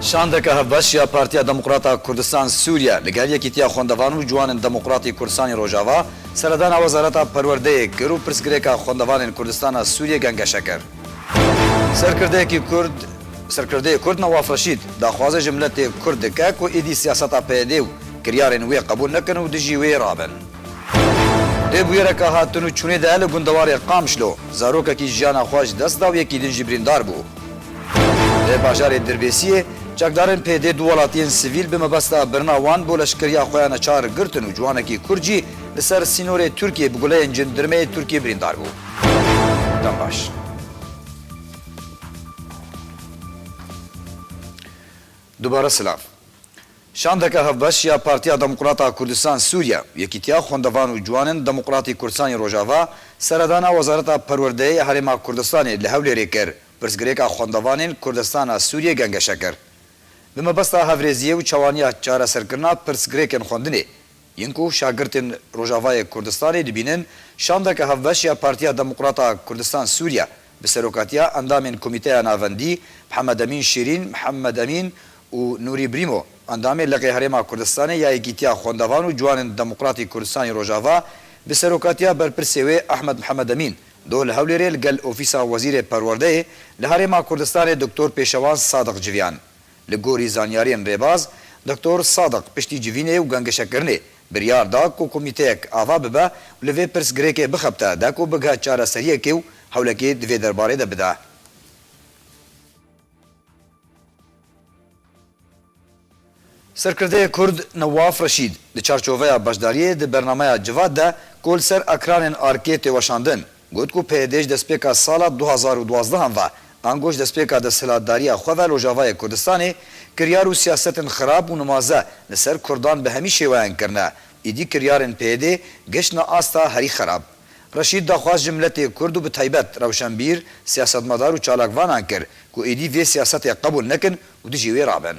Şandeke hevbeş ya Partiya Demokrata Kurdistan Sûriye li gel Yekîtiya Xwendevan û Ciwanên Demokratî Kurdistanê Rojava seredana Wezareta Perwerdeyê kir û pirsgirêka xwendevanên Kurdistana Sûriyê gengeşe kir. Serkirdeyekî Kurd Serkirdeyê Kurd Newaf Reşîd daxwazê ji miletê Kurd dike ku êdî siyaseta PYDê û kiryarên wê qebûl nekin û dijî wê rabin. Di bûyereke hatin û çûnê de li gundewarê Qamşlo zarokekî jiyana xwe ji dest da û yekî din jî birîndar bû. Li bajarê Dirbêsiyê çekdarên PYD'ê du welatiyên sivîl bi mebesta birina wan bo leşkeriya xwe ya neçar girtin û ciwanekî Kurd jî li ser sînorê Tirkiyê bi guleyên cindirmeyê Tirkiyê birîndar bû. Dem baş. Dubare silav. Şandeke hevbeş ya Partiya Demokrat a Kurdistan Sûriye, Yekîtiya Xwendevan û Ciwanên Demokrat ê Kurdistan yên Rojava seredana Wezareta Perwerdeyê ya Herêma Kurdistanê li Hewlêrê kir, pirsgirêka xwendevanên Kurdistana Sûriyê gengeşe kir. Bi mebesta hevrêziyê û çawaniya çareserkirina pirsgirêkên xwendinê, Yên ku şagirtên Rojavayê Kurdistanê dibînin, şandeke hevbeş ya Partiya Demokrat a Kurdistan Sûriye bi serokatiya endamên Komîteya Navendî Mihemedemîn Şîrîn, Mihemed Emîn û Nûrî Brîmo, endamê Liqê Herêma Kurdistanê ya Yekîtiya Xwendevan û Ciwanên Demokratî Kurdistanê Rojava bi serokatiya berpirsê wê Ehmed Mihemed Emîn doh li Hewlêrê li gel Ofîsa Wezîrê Perwerdeyê li Herêma Kurdistanê Doktor Pêşewan Sadiq Civiyan Li gorî zanyariyên rêbaz, Doktor Sadiq piştî civînê û gangişekirinê biryar da ku komîteyek ava bibe û li vê pirsgirêkê bixebite dek û bighe çareseriyekê û hewlekê di vê derbarê de bide. Serkirdeyê Kurd Newaf Reşîd di çarçoveya beşdariyê di bernameya Civat de ku li ser ekranên ARK'ê tê weşandin, Got ku peyedê ji destpêka sala du hezar û duwazdeh an ve, ango ji destpêka desthilatdariya xwe ve Rojavayê Kurdistanê, kiryar û siyasetên xirab û nimaze li ser Kurdan bi hemî şêweyan kirine, îdî kiryarên peyedê geştine asta herî xirab. Reşîd daxwaz ji miletê Kurd û bi taybet rewşenbîr, siyasetmedar û çalakvanan kir ku îdî vê siyasetê qebûl nekin û dijî wê rabin.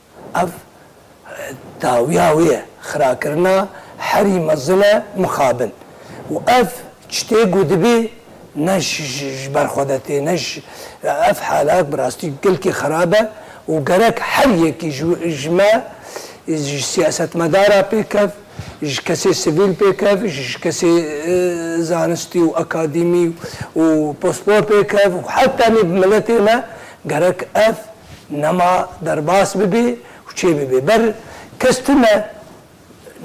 Ev dawiya wê ye, xirakirina herî mezin e mixabin û ev çitê ku dibê ne ji ber xwe ve tê ne ji ev halat bi rastî gelkî xerab e û gerek her yekî ji me ji siyasetmedara pêkev ji kesê sivîl pêkev ji kesê zanistî û akadîmî û pospor pêkev û heta tenê bi miletê me gerek ev Nema derbas bibê û çê bibê. Ber kes tune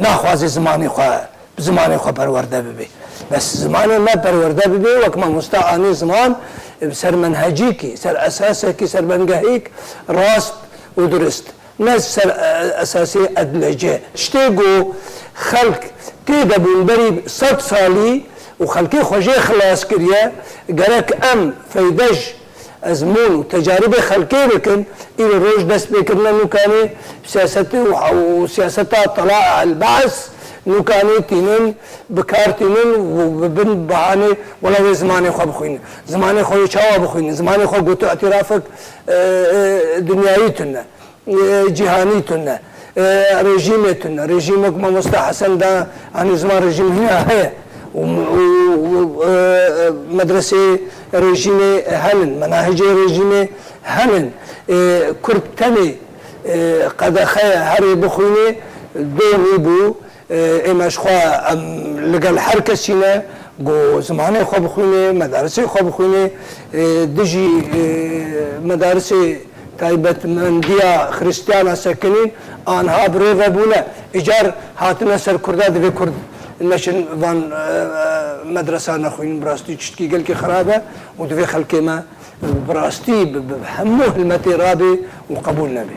naxwaze zimanê xwe bi zimanê xwe perwerde bibê. Bes zimanê me perwerde bibê wek mamosta anê ziman bi ser menhecîkî, ser esasekî, ser bengehêk rast û durist. Ne ji ser esasê edlece. Tiştê ku xelk tê de bûn berî sed salî û xelkê xwe jê xilas kiriye, gerek em feyde ji. Ezmûn û tecaribê xelkê dikin, îro roj dest pê kirina nûkanê siyasetê û siyaseta tala el bas nûkanê tînin bi kar tînin û bi bin bahanê wela wê zimanê xwe bixwînin, zimanê xwe wê çawa bixwînin, zimanê xwe gotu îtirafek dinyayî tune. Cîhanî tune. Rejîmê tune. Rejîmê ku Mamosta Hesen da anî ziman rejîm hîna heye û medreseyê rejîmê henin, menahicê rejîmê henin. Kurd tenê qedexeya herê bixwînê doh nîbû. Ême ji xwe em li gel her kesî ne ku zimanê xwe bixwînê, medarisê xwe bixwînê, dijî medarisê taybetmendiya xiristiyana sekinîn anha bi rê ve bûne. Îcar hatine ser kurda divê kurd neçin van medresan nexwînin bi rastî tiştkî gelkî xerab e û divê xelkê me bi rastî bi hemû hilmetê rabê û qebûl nebe.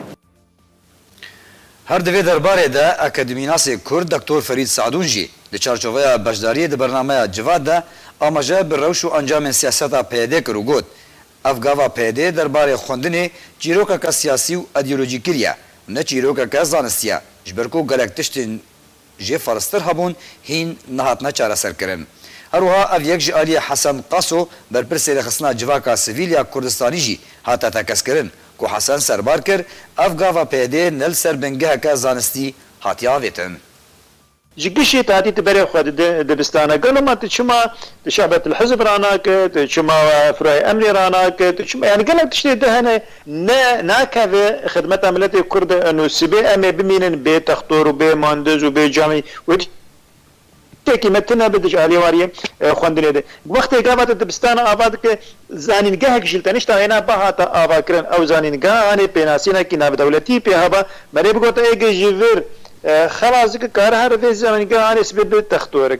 Her di vê derbarê de akademînasê Kurd Doktor Ferîd Seedûn jî di çarçoveya beşdariyê di bernameya Civat de amaje bi rewş û encamên siyaseta PYDê kir û got, Ev gava PYDê derbarê xwendinê çîrokeke siyasî û edîolojî kiriye û ne çîrokeke zanistî ye, ji ber ku gelek tiştên jê farstir hebûn hîn nehatine çareserkirin. Her wiha ev yek ji aliyê Hesen Qaso berpirsê rêxistina civaka sivîl ya Kurdistanî jî hate tekezkirin ku Hesen serbar kir, ev gava PYD ne li ser bingeheke zanistî hatiye avêtin. Ji kişî tu hatî tu berê xwe di dibistana gelo ma tu çima tu şebetil hizb ranakir, tu çima firayê emnê ranakir, tu çima yanî gelek tiştê di hene. Ne, nakeve xidmeta miletê Kurd e û sibê em ê bimînin bê textor û bê mandiz û bê camî wê tiştekî me tune bi dij aliyê wariyê xwendinê de. Wextê gava di dibistana ava dike, zanîngehek jî li tenişta hêna ba hate avakirin. Ew zanîngehanê pênasînekî navdewletî pê haba. Me rê bigotin êgê ji vir xelas dike kariha li vê zanîngehanê sibê bi textorik.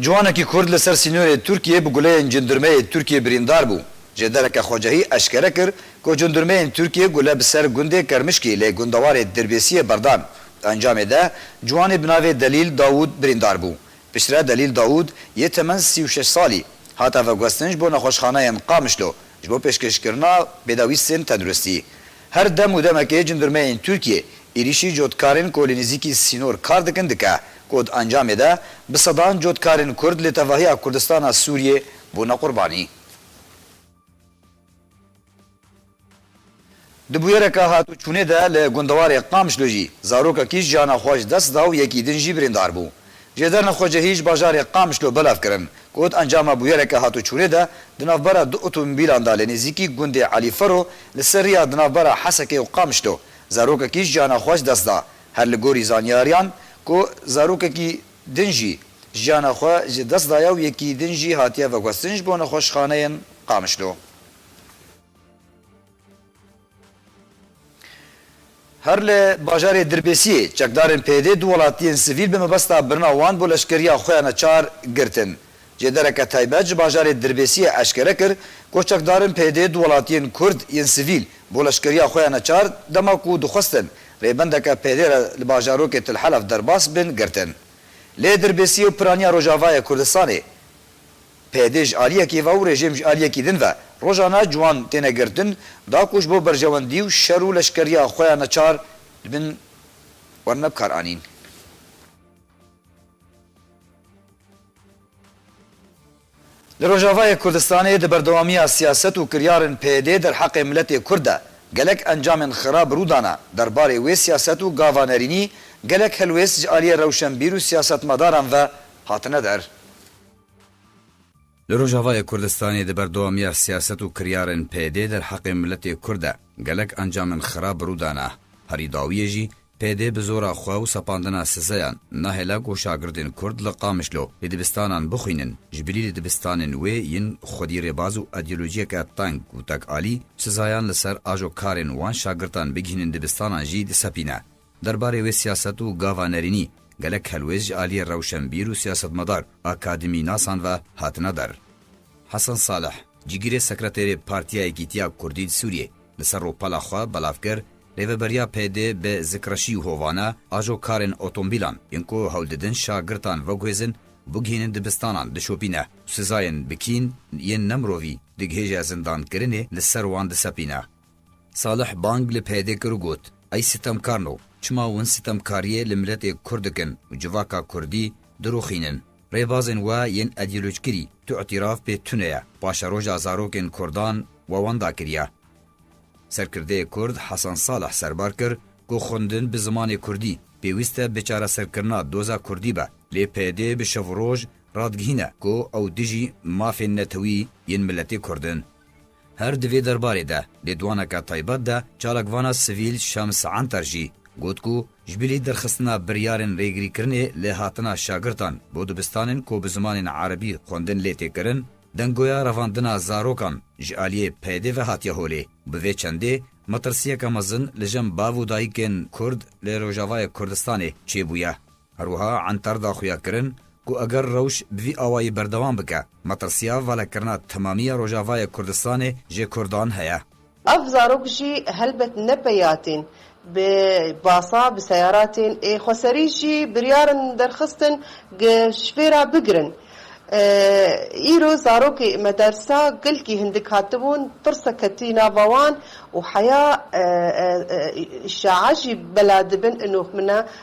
Ciwanekî Kurd li ser sînorê Tirkiyê bi guleyên cindirmeyê Tirkiyê birîndar bû. Jê dereke Xwecehî eşkere kir ku cindirmeyên Tirkiyê gule bi ser gundê Kermişkî lê gundewarê Dirbêsiyê berdan. Di encamê de ciwanê bi navê Delîl Dawûd birîndar bû. Piştre Delîl Dawûd yê temen sî û şeş salî hate veguhestin ji bo nexweşxaneyên Qamişlo ji bo pêşkêşkirina pêdawîstên tenduristî. Her dem û demekê cindirmeyên Tirkiyê êrîşî cotkarên ku li nêzîkî sînor kar dikin dike ku di encamê de bi sedan cotkarên Kurd li tevahiya Kurdistana Sûriyê bûne qurbanî. Di bûyereke hatûçûnê de li gundewarê Qamşlo jî zarokekî jiyana xwe ji dest da û yekî din jî birîndar bû. Jê derna xwe ji hîj bajarê Qamişlo belav kirin. Got, Encama bûyereke hatûçûnê de di navbera du otomobîlan de li nêzîkî gundê Elî Fero li ser rêya di navbera Hesekê û Qamişlo zarokekî jiyana xwe ji dest da. Her li gorî zanyariyan ku zarokekî din jî jiyana xwe ji dest daye û yekî din jî hatiye veguhestin ji bo nexweşxaneyên Qamişlo. Her li bajarê Dirbêsiyê çekdarên PYD'ê du welatiyên sivîl bi mebesta birina wan bo leşkeriya xwe ya neçar girtin. Cêdereke taybet ji bajarê Dirbêsiyê eşkere kir ku çekdarên PYD'ê du welatiyên Kurd yên sivîl bo leşkeriya xwe ya neçar dema ku dixwestin rêbendeke PYD'ê re li bajarokê Til Helef derbas bin girtin. Lê Dirbêsiyê û piraniya Rojavayê Kurdistanê, Peyde ji aliyekî ve û rejim ji aliyekî din ve, rojane ciwan têne girtin, da ku ji bo berjewendî û şer û leşkeriya xwe ya neçar dibin wan me bikar anîn. Li Rojavayê Kurdistanê di berdewamiya siyaset û kiryarên peyde derheqê miletê kurd de gelek encamên xirab rû dane, derbarê wê siyaset û gava nerînî gelek helwêst ji aliyê rewşenbîr û siyasetmedaran ve hatine der. Li Rojavayê Kurdistanê di berdewamiya siyaset û kiryarên PYDê derheqê miletê Kurd de gelek encamên xerab rû dane. Herî dawiyê jî PYD bi zora xwe û sepandina sizeyan nahêle ku şagirdên Kurd li Qamişlo li dibistanan bixwînin ji bilî li dibistanên wê yên xwedî rêbaz û îdeolojiyeke teng û tekalî sizayan li ser ajo karên wan şagirdan bigihînin dibistanan jî disepîne. Derbarê wê siyaset û gava nerînî gelek helwêst ji aliyê rewşenbîr û siyasetmedar, akademînasan ve hatine dar. Hesen Salih, cîgirê sekreterê Partiya Yekîtiya Kurdî di Sûriyê, li ser rûpela xwe belav kir, Rêveberiya PD bi zikreşî û hovane ajo karên otombîlan yên ku hewl didin şagirtan veguhêzin, bigihînin dibistanan dişopîne û sizayên bikîn yên nemirovî digihêje zindankirinê li ser wan disepîne. Salih bang li PYDê kir û got, Ey sitemkar no, çima win sitemkariyê li miletê Kurd dikin û civaka Kurdî dirûxînin? Rêbazên we yên edîolojkirî tu îtîraf pê tune ye, paşeroja zarokên Kurdan we wan dakiriya. Serkirdeyê Kurd Hasan Salih serbar kir ku xwendin bi zimanê Kurdî pêwîst e bi çareserkirina doza Kurdî be. Lê PYD bi şev û roj radigihîne ku ew dijî mafên netewî yên miletê Kurd in. Her di vê derbarê de lêdwaneke taybet de çalakvana sivîl Şems Enter jî got ku ji bilî derxistina biryarên rêgirîkirinê li hatina şagirtan bo dibistanên ku bi zimanên erebî xwendin lê tê kirin, dengoya revandina zarokan ji aliyê PYDê ve hatiye holê û bi vê çendê metirsiyeke mezin li jin bav û dayikên Kurd li Rojavayê Kurdistanê çêbûye. Her wiha Entar da xuyakirin ku eger rewş bi vî awayî berdewam bike, metirsiya velekirina temamiya Rojavayê Kurdistanê jê Kurdan heye. Ev zarok jî helbet ne peyatîn bi basa bi seyaratên ê xweserî jî biryar in derxistin gi şvêra bigirin. Îro zarokê medersa gilkî hindik hatibûn, tirsa ketî nava wan û heya îşa'a jî bela dibin inox min e.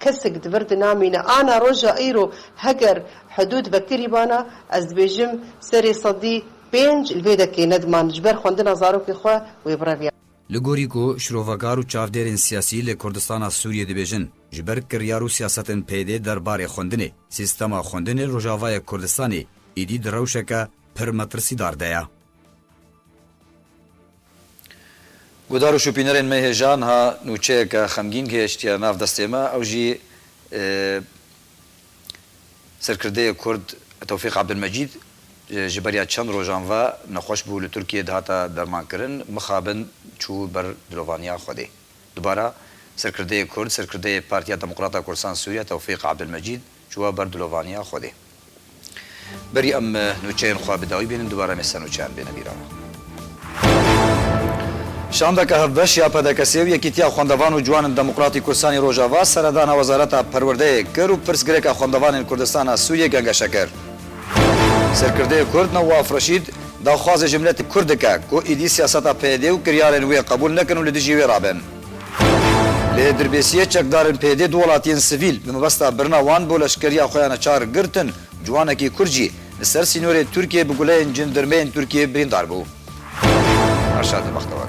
Kesik di vir de namîne. Ana roja îro heger hidûd vekirîbana, ez dibêjim serê sedî pênc li vê dekê nediman ji ber xwendina zarokê xwe wê bireviya. Li gorî ku şrovegar û çavdêrên siyasî li Kurdistana Sûriyê dibêjin, ji ber kiryar û siyasetên PYD der barê xwendinê, sîstema xwendinê li Rojavayê Kurdistanê êdî di rewşeke pir metirsîdar de ye. Guhdar û şûpînerên me hê jiyan ha nûçeyeke xemgîn gihêştiye nav destê me ew jî serkirdeyê kurd Tewfîq Abdulmecîd ji beriya çend rojan ve nexweş bû li Tirkiyê dihate dermankirin mixabin çû ber dilovaniya Xwedê. Dubara serkirdeyê kurd serkirdeyê Partiya Demokrata Kurdistan Sûriye Tewfîq Abdulmecîd çûye ber dilovaniya Xwedê. Berî em nûçeyên xwe bi dawî bînin dubare em ê sernûçeyan bêne bîra. Şandeke hevbeş ya PDKS'ê û Yekîtiya Xwendevan û Ciwanin Demokratî Kurdistanî Rojava seredana Wezareta Perwerdeyê kir û pirsgirêka xwendevanên Kurdistanê a Sûriyê gengeşe kir. Serkirdeyê Kurd Newaf Reşîd daxwazê ji miletê Kurd dike ku êdî siyaseta PYD û kiryarên wê qebûl nekin û li dijî wê rabin. Lê dirbêsiyê çekdarên PYD'ê du welatiyên sivîl bi mebesta birina wan bo leşkeriya xwe ya neçar girtin, ciwanekî Kurd jî li ser sînorê Tirkiyê bi guleyên cendirmeyên Tirkiyê birîndar bû. Erşad Bextewar.